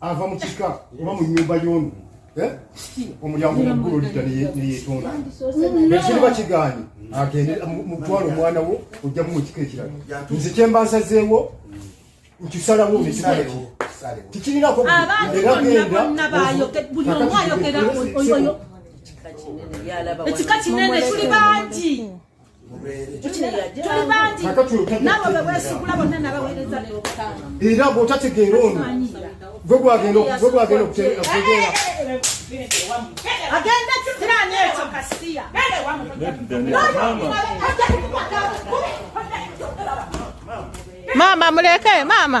ava mu kika oba mu nyumba y'ono eh? omulyango muggulu olidda neyetonda ekiriba kigaanyi agende mutwala omwana wo ojjamu mu kika ekirala nze kyemba nsazeewo nkisalawo nekiraleki tikirinako era gendaekika kinene tuli bangi era bwotategeera ono gwe gwagenda okutegeera maama muleke maama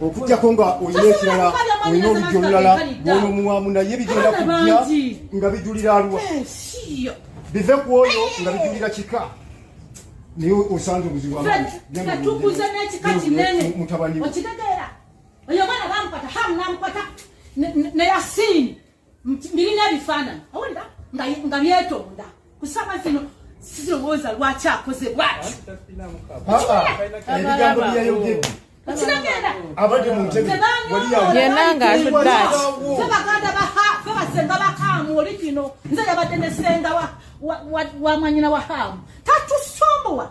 okujjako nga olina ekirala olina oluggi olulala bwonomuwamu naye bigenda kujja nga bijulira alwa eh, bive ku oyo nga bijulira kika naye osanze obuzibu amatukuze n'ekika kinene okitegeera oyo omwana bamukwata hamu namukwata ne yasini birina ebifaananyi awulira nga byetonda kusaba zino sirowooza lwaki akoze bwati ebigambo byeyayogedde yena ngaatuddaakibaganda bafe basenga bakaamu oli kino nze yabadde nesenga wamwanyina wa haamu tatusombowa